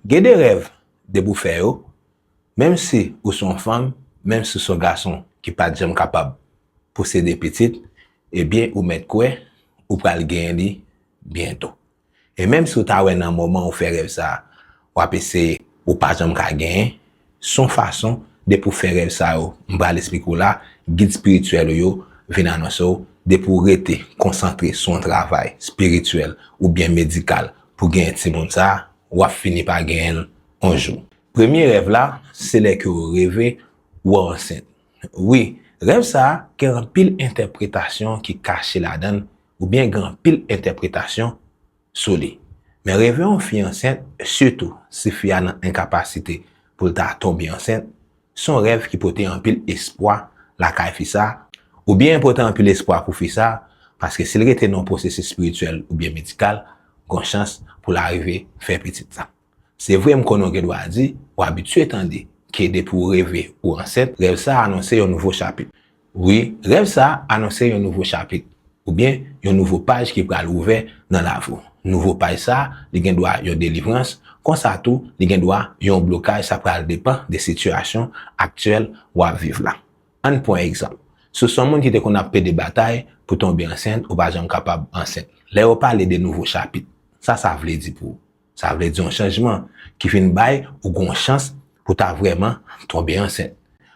Gen de rèv depi w fè yo, menm si ou se yon fanm, menm si w se yon gason ki pa t janm kapab posede pitit, ebyen ou mèt kwè ou pral genyen li byento. E menm si w ta wè nan moman ou fè rèv sa a, w ap eseye, ou pa janm ka genyen, Son fason depi ou fè rèv sa yo m pral esplike w la, gid spirityèl ou yo vin anonse w depi w rete konsantre sou yon travay spirityèl oubyen medikal pou genyen timoun sa, wap fini pa genyen l yon jou. Premye rèv la se lè ke w reve wè w ansent. Wi, rèv sa gen anpil entèpretasyon ki kache ladan l oubyen gen anpil entèpretasyon sou li. Men reve yon fi ansent, sitou si fi a nan enkapasite pou l ta tonbe ansent, se yon rèv ki pote anpil espwa lakay fi sa, oubyen pote anpil espwa pou fi sa, paske si l rete nan yon pwosesis espirityèl oubyen medikal, gon chans pou l arive fè pitit sa. Se vre m konnen w gen dwa di, ou abitye tande, ke depi w reve ou ansent, rèv sa a anonse yon nouvo chapit. Wi, rèv sa a anonse yon nouvo chapit, oubyen yon nouvo paj ki pral ouvè nan lavi w. Nouvo paj sa a, li gen dwa yon delivrans, konsa tou, li gen dwa yon blokaj sa pral depan de sitiyasyon aktyèl w ap viv la. An n pran egzanp, si w se yon moun ki te konn ap plede batay pou tonbe ansent, ou pa janm kapab ansent. Lè yo pale de nouvo chapit, sa sa vle di pou ou? Sa vle di yon chanjman ki vin bay ou yon chans pou w ta vrèman tonbe ansent.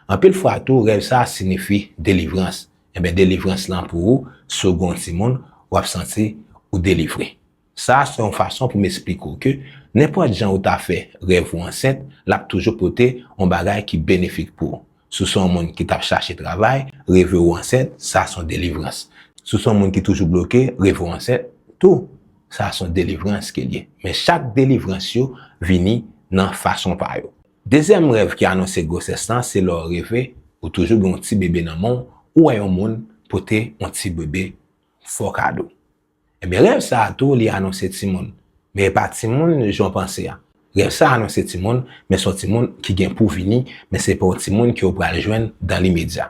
Anpil fwa tou rèv sa sinifi delivrans. Enben delivrans lan pou ou si w gen yon timoun w ap santi ou delivre. Sa se yon fason pou m esplike w ke nenpòt jan ou ta fè rèv ou ansent l ap toujou pote yon bagay ki benefik pou ou. Si w se yon moun ki t ap chache travay, reve w ansent, sa se yon delivrans. Si w se yon moun ki toujou bloke, reve w ansent tou, sa se yon delivrans ke l ye. Men chak delivrans yo vini nan fason pa yo. Dezyèm rèv ki anonse gwosès lan se lè w reve ou toujou gen yon ti bebe nan men w, ou wè yon moun pote yon ti bebe fo kado. Enben rèv sa a tou li anonse timoun, men e pa timoun jan w panse a. Rèv sa a anonse timoun, men se yon timoun ki gen pou vini, men se pa yon timoun ke ou pral jwenn dan limedya.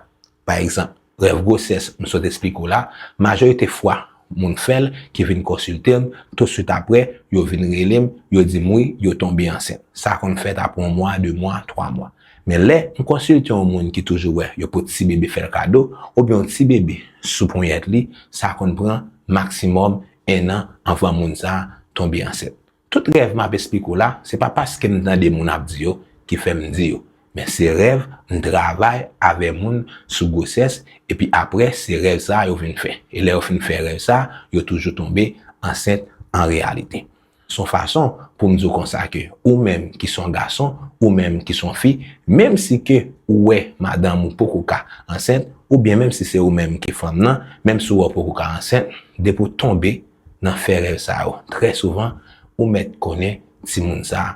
Pa egzanp, rèv gwosès m sot esplike w la, majorite fwa moun fè l ki vin konsilte m, tousuit aprè, yo vin rele m, yo di m wi, yo tonbe ansent. Sa konn fèt aprè yon mwa, de mwa, twa mwa. Men lè m konsilte yon moun ki toujou wè yon po ti bebe fè l kado, oubyen yon ti bebe sou ponyèt li, sa konn pran maksimòm ennan anvan moun sa a tonbe ansent. Tout rèv m ap esplike w la, se pa paske m tande moun ap di yo ki fè m di yo, men se rèv m travay avè moun sou gwosès epi aprè se rèv sa a yo vin fè. E lè yo fin fè rèv sa a, yo toujou tonbe ansent an reyalite. S on fason pou m di w konsa ke ou menm ki s on gason, ou menm ki s on fi, menm si ke ou wè madanm ou poko ka ansent, oubyen menm si se ou menm ki fanm nan, menm si w wè w poko ka ansent, depi w tonbe nan fè rèv sa yo trè souvan, ou mèt konnen timoun sa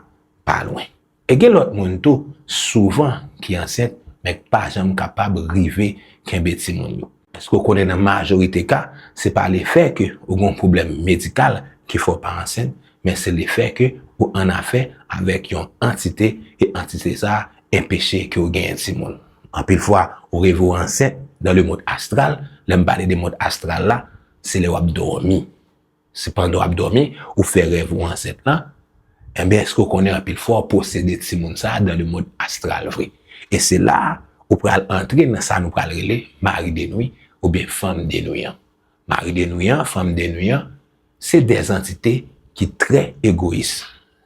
pa lwen. E gen lòt moun tou, souvan, ki ansent, men k pa janm kapab rive kenbe timoun yo. Èske w konnen nan majorite ka, se pa lefè ke ou gen yon pwoblèm medikal ki fè w pa ansent, men se lefè ke ou annafè avèk yon antite, e antite sa a enpeche ke w genyen timoun. Anpil fwa, ou reve w ansent dan le mond astral, lè m pale de mond astral la, se lè w ap dòmi. Si pandan w ap dòmi, ou fè rèv ou ansent lan, enben èske w konnen anpil fwa w posede timoun sa a dan lemond astral vre? E se la a ou pral antre nan sa nou pral rele mari denwi oubyen fanm denwi an. Mari denwi an, fanm denwi an, se de zantite ki trè egoyis.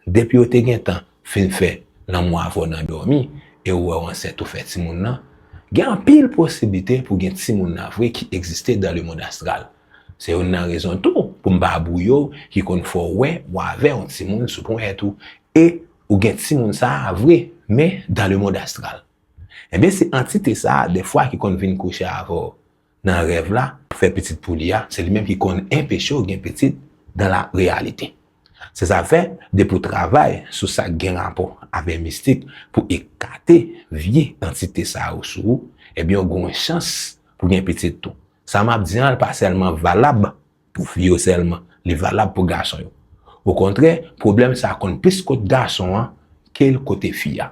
Depi yo te gentan fin fè lanmou avè w nan dòmi e ou wè w ansent ou fè timoun nan, gen anpil posiblite pou gen timoun nan vre ki egziste dan lemond astral. Se youn nan rezon tou pou m pa bwouye w ki konn fè w wè ou avè yon timoun sou ponyèt ou e ou gen timoun sa a vre men dan lemond astral. Enben se antite sa a dèfwa ki konn vin kouche avè w. nan rèv la pou fè pitit pou li a, se li menm ki konn enpeche w gen pitit dan la reyalite. Se sa fè, depi w travay sou sa k gen rapò avè mistik pou ekate vye antite sa yo sou ou, ebyen w gwen chans pou gen pitit tou. Sa m ap di an l pa sèlman valab Pou fi yo sèlman li valab pou gason yo. Okontrè, pwoblèm sa konn plis kot gason an ke l kote fi a.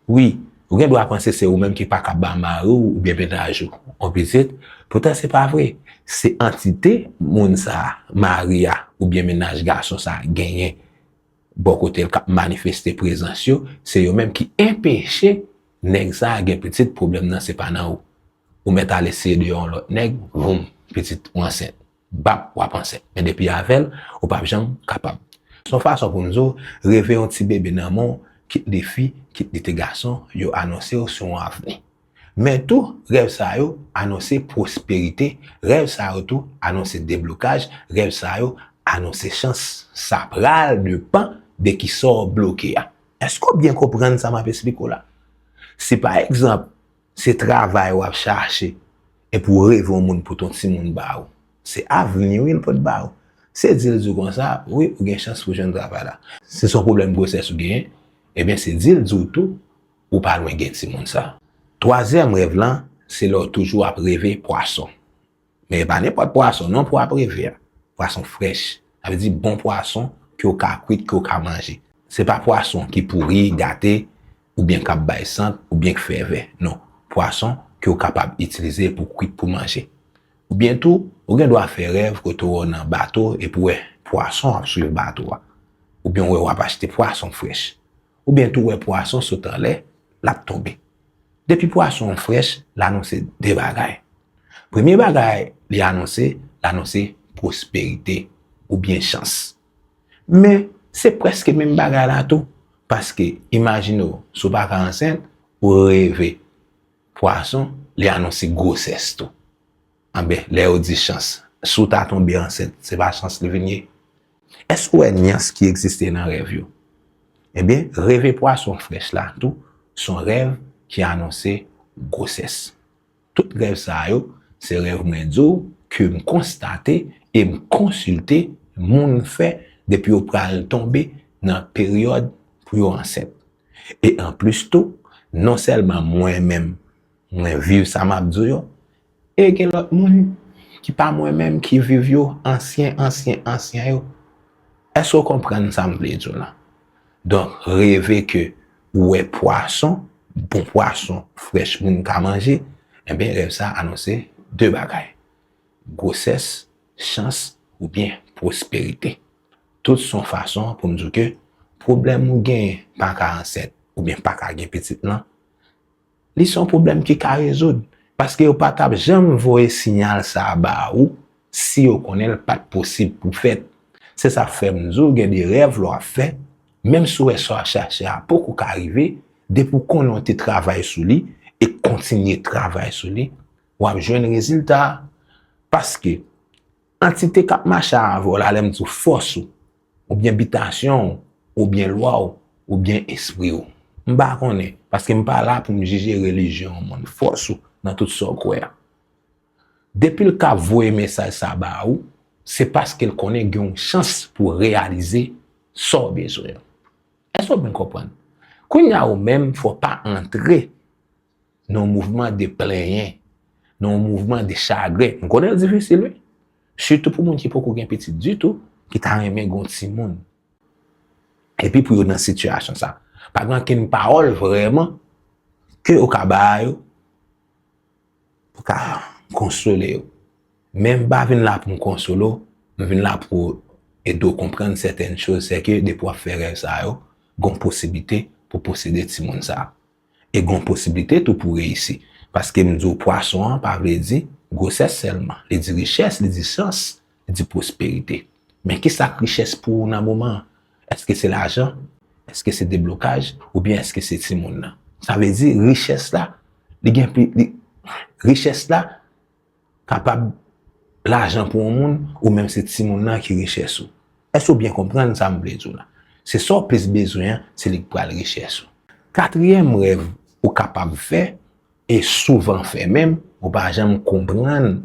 Wi, ou gen dwa panse se ou menm ki pa ka ba mari w oubyen mennaj ou yon pitit, poutan se pa vre. Se antite moun sa a, mari a oubyen mennaj gason sa a genyen bò kote l k ap manifeste prezans yo, se yo menm ki enpeche nèg sa a gen pitit, pwoblèm nan se pa nan ou. Ou mèt al eseye deyò yon lòt nèg, voum, pitit ou ansent. Bap, wap ansent. Men depi avèl, ou pap janm kapab. Se yon fason pou nou di w, reve yon ti bebe nan men w, kit li fi, kit li te gason, yo anonse w sou yon avni. Men tou, rèv sa yo anonse pwosperite, rèv sa yo tou anonse deblokaj, rèv sa yo anonse chans. Sa pral depan de ki sa w bloke a. Èske w byen konprann sa map esplike w la? Si pa egzanp, Se travay wap chache epi w reve yon moun pou ton timoun ba ou. Se avni wi l pot ba ou. Se di l di w konsa wi ou gen chans pou jwenn travay la. Si son pwoblèm gwosès ou genyen, ebyen se di l di w tou ou pa lwen gen timoun sa. Twazyèm rèv lan se lè w toujou ap reve pwason. Men e pa nenpòt pwason non pwa preve a. Pwason frèch. Sa vle di bon pwason ke ou ka kwit, ke ou ka manje. Se pa pwason ki pouri, gate, oubyen k ap bay sant, oubyen k fè vè. Non. Pwason ke ou kapab itilize pou kwit pou manje. Oubyen tou, ou gen dwa fè rèv kote ou nan bato epi ou wè pwason ap swiv bato a. Oubyen ou wè w ap achte pwason frèch. oubyen tou wè pwason sot anlè, l ap tonbe. Depi pwason an frèch, l anonse de bagay. Premye bagay li anonse, l anonse pwosperite oubyen chans. Men, se prèske menm bagay la tou, paske imajine w si w pa ka ansent, ou reve pwason, li anonse gwosès tou. Anben, lè yo di chans, si w ta tonbe ansent, se pa chans li vin ye? Èske w wè nyans ki egziste nan rèv yo? Enben, reve pwason frèch la tou s on rèv ki anonse gwosès. Tout rèv sa yo, se rèv mwen di w ke m konstate e m konsilte moun fè depi yo pral tonbe nan peryòd pou yo ansent. E anplis tou, non sèlman mwen menm mwen viv sa m ap di w yo, E gen lòt moun ki pa mwen menm ki viv yo, ansyen, ansyen, ansyen yo. Èske ou konprann sa m vle di w la? Donk, reve ke ou wè pwason, bon pwason, frèch moun ka manje, enben rèv sa anonse de bagay, gwosès, chans oubyen pwosperite. Tout s on fason pou m di w ke pwoblèm ou genyen pa ka ansent oubyen pa ka gen pitit lan, Li son pwoblèm ki ka rezoud, paske yo pa tap janm voye sinyal sa a ba ou si yo konnen l pat posib pou fèt. Se sa k fè m di w gen de rèv lè w ap fè, menm si w wè sa w ap chache a poko ka rive, depi w konnen w te travay sou li e kontinye travay sou li, w ap jwenn rezilta a. Paske, antite k ap mache avè w la, lè m di w fòs ou, oubyen bitasyon w, oubyen lwa w, oubyen espri w. M pa konnen, paske m pa la pou m jije relijyon yon moun, fòs ou nan tout sa w kwè a. Depi l ka voye mesaj sa ba ou, se paske l konnen gen yon chans pou w reyalize sa w bezwen an. Èske w fin konprann? Kounye a ou menm, fò w pa antre. nan yon mouvman de plenyen, nan yon mouvman de chagren. M konnen l difisil wi. Sitou pou moun ki poko gen pitit ditou, ki ta renmen gen yon timoun. Epi pou yo nan sitiyasyon sa. Pa gen ankenn pawòl vrèman ke ou ka ba yo pou ka konsole yo. Men m pa vin la pou m konsole w, m vin la pou ede w konprann sèten choz, se ke depi w ap fè rèv sa yo, gen yon posiblite pou posede timoun sa. E gon posiblite tou pou reyisi. Paske m di w pwason an pa vle di gwosès sèlman. Li di richès, li di chans, li di pwosperite. Men ki sa k richès pou ou nan moman an? Eske se lajan? Eske se deblokaj? Oubyen eske se timoun nan? Sa vle di richès la, li gen pli, li, richès la. Kapab lajan pou yon moun ou menm se timoun nan ki richès ou. Èske ou byen konprann sa m vle di w la? Se sa w plis bezwen an, se li k pral richès ou. Katriyèm rèv ou kapab fè, e souvan fè menm, ou pa janm konprann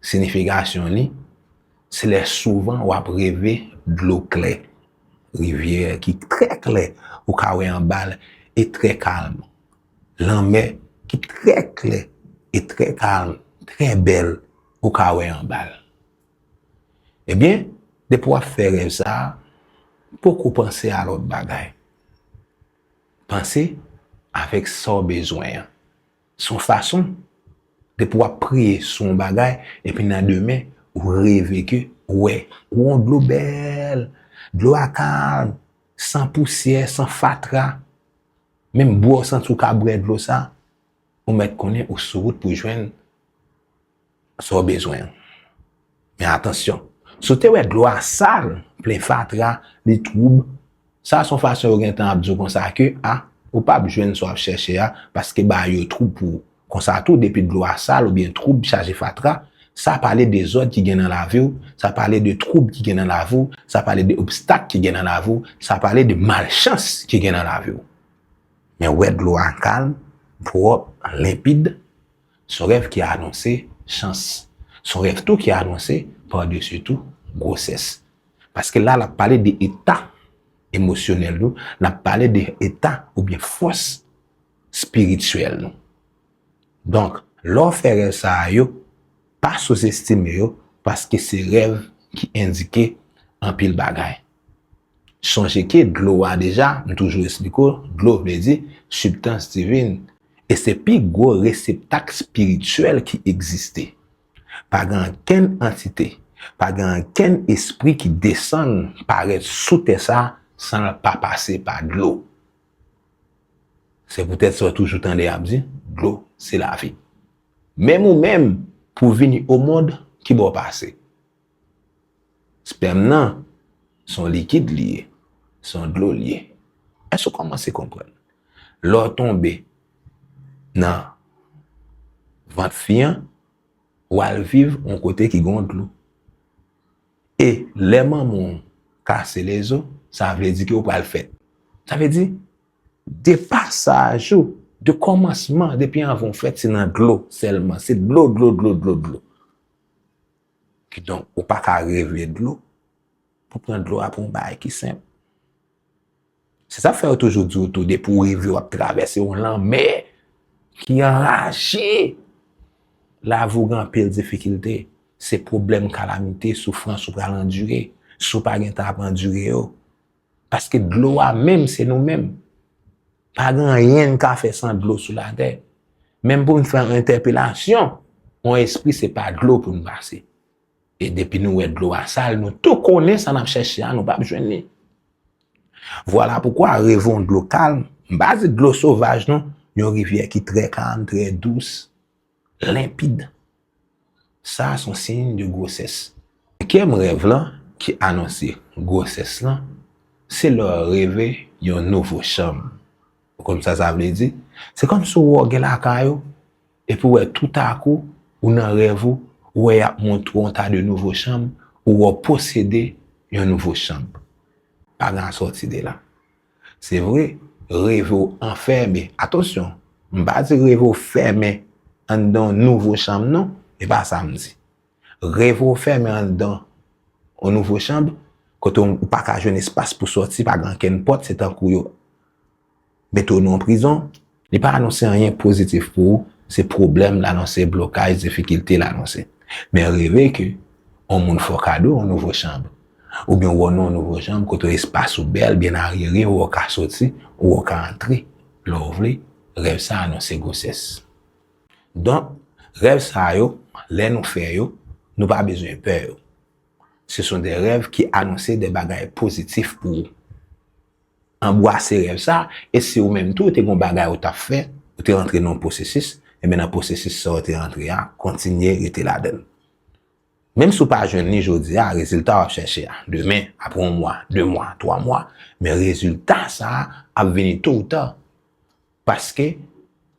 sinifikasyon li, se lè souvan w ap reve dlo klè, rivyè ki trè klè, ou ka wè anba l, e trè kalm. Lanmè ki trè klè e trè kalm, trè bèl, ou ka wè anba l. Ebyen, depi w ap fè rèv sa, poko panse a lòt bagay. Panse avèk sa w bezwen an. Se yon fason, depi w ap priye sou yon bagay, epi nan demen, ou reve ke ou wè yon dlo bèl, dlo a kalm, san pousyè, san fatra, Menm bwè w santi w ka bwè dlo sa, ou mèt konnen ou sou wout pou jwenn sa w bezwen an. Men atansyon, si w te wè dlo a sal, plen fatra, li twoub, sa a se yon fason yo gentan ap di w konsa ke a, ou pap jwenn sa w ap chèche a paske bagay yo twoub pou ou. Konsa tou, depi dlo a sal oubyen twoub chaje fatra, sa pale dezòd ki gen nan lavi w, sa pale de twoub ki gen nan lavi w, sa pale de obstak ki gen nan lavi w, sa pale de malchans ki gen nan lavi w. Men wè dlo a kalm, pwòp, limpid, s on rèv ki anonse chans. S on rèv tou ki anonse, padesi tou, gwosès. Paske la l ap pale de eta emosyonèl nou, l ap pale de eta oubyen fòs. spirityèl nou. Donk, lè w fè rèv sa a yo, pa souzestime yo paske se rèv ki endike anpil bagay. Sonje ke dlo a deja, m toujou esplike w, dlo vle di sibtans divin e se pi gwo reseptak spirityèl ki egziste. Pa gen ankenn antite, pa gen ankenn espri ki desann parèt sou tè sa san l pa pase pa dlo. Se poutèt sa w toujou tande y ap di, dlo se lavi. Menm ou menm, pou w vini omond, ki bò w pase? Spèm nan, se yon likid li ye, se yon dlo li ye. Èske ou kòmanse konprann? Lè w tonbe nan vant fi an, w al viv yon kote ki gen yon dlo. E lè manman w kase lezo, sa vle di ke ou pral fèt. Sa vle di, de pasaj ou, de kòmansman, depi anvan w fèt, se nan dlo sèlman. Se dlo, dlo, dlo, dlo, dlo. Kidonk, ou pa ka reve dlo, pou pran dlo a pou yon bagay ki senp. Se sa k fè yo toujou di w tou depi w reve w ap travèse yon lanmè ki anraje, lavi w gen anpil difikilte, se pwoblèm, kalamite, soufrans ou pral andire si w pa gentan ap andire yo. Paske dlo a menm se nou menm. Pa gen anyen n ka fè san dlo sou latè. Menm pou n fè yon entèpelasyon, yon espri se pa dlo pou n pase. E depi nou wè dlo a sal, nou tou konnen sa n ap chèche a, nou p ap jwenn li. Vwala poukwa reve yon dlo kalm, m pa di dlo sovaj non, yon rivyè ki trè kalm, trè dous, lenpid, sa a s on siyn de gwosès. Senkyèm rèv lan ki anonse gwosès lan, se lè w reve yon nouvo chanm. Ou konn sa sa vle di? Se kòmsi w wè w gen lakay ou. Epi ou wè toutakou, ou nan rèv ou, ou wè y ap montre w yon ta de nouvo chanm, ou wè w posede yon nouvo chanm. Pa gen asòti de la. Se vre, reve w anfème, atansyon, m pa di reve w fèmen anndan yon nouvo chanm non, e pa sa m di. Reve w fèmen anndan yon nouvo chanm, kote ou pa ka jwenn espas pou sòti, pa gen ankenn pòt, se tankou yo. mete w nan yon prizon. Li pa anonse anyen pozitif pou ou, se pwoblèm l anonse, blokaj, difikilte l anonse. Men reve ke yon moun fè w kado yon nouvo chanb, oubyen w wè w nan yon nouvo chanb kote espas ou bèl, byen aryere, ou wè w ka soti, ou wè w ka antre lè w vle, rèv sa anonse gwosès. Donk, rèv sa yo, lè nou fè yo, nou pa bezwen pè yo. Se son de rèv ki anonse de bagay pozitif pou ou. Anbwase rèv sa, e si ou menm tou ou te gon bagay ou t ap fè, ou te rantre nan yon pwosesis, enben nan pwosesis sa ou te rantre a, kontinye rete ladan l. Menm si ou pa jwenn li jodi a, rezilta w ap chèche a, demen, apre yon mwa, de mwa, twa mwa, men rezilta sa a ap vini to ou ta. Paske,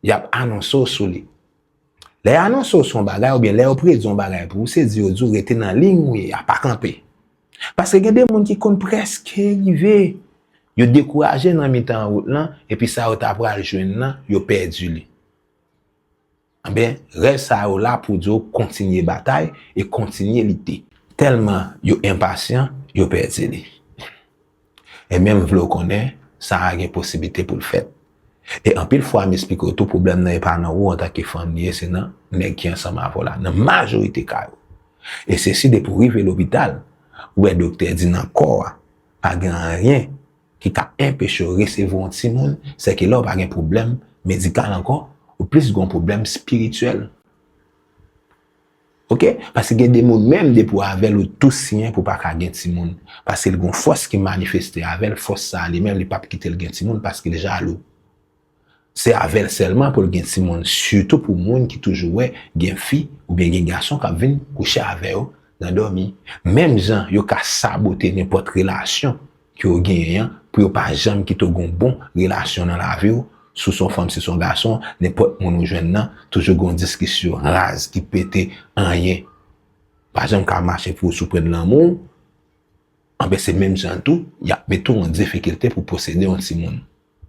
y ap anonse w sou li. Lè y anonse w sou yon bagay oubyen lè yo predi yon bagay pou ou, se di yo di w rete nan liy ou ye a, pa kanpe. Paske gen de moun ki konn prèske rive, yo dekouraje nan mitan wout lan, epi sa yo ta pral jwenn nan, yo pèdi li. Anben, rèv sa yo la pou di w kontinye batay e kontinye lite. Tèlman yo enpasyan, yo pèdi li. E menm vle w konnen, sa a gen posiblite pou l fèt. E anpil fwa m esplike w tou pwoblèm nan e pa nan ou antanke fanm li ye, se nan nèg ki ansanm avè w la, nan majorite ka yo. E sesi depi w rive lopital, ou wè doktè di nan kò a, pa gen anyen. ki ka enpeche yo resevwa yon timoun, se ke lè ou pa gen pwoblèm medikal ankò, ou plis gen yon pwoblèm spirityèl. Ok, paske gen de moun menm depi w avè l ou tou siyen pou w pa ka gen timoun, paske l gen yon fòs ki manifeste avè l, fòs sa a li menm li p ap kite l gen timoun paske l jalou. Se avèl sèlman poul gen timoun sitou pou moun ki toujou wè gen fi oubyen gen gason kap vin kouche avè yo nan dòmi menm jan yo ka sabote nenpòt relasyon ke yo genyen an pou yo pa janm kite w gon bon relasyon nan lavi w sou son fanm si son gason nenpòt moun ou jwenn nan toujou gon diskisyon raz ki pete anyen pa janm ka mache pou w sou pwen lanmou w anben se menm jan tou yap mete w an difikilte pou posede yon timoun.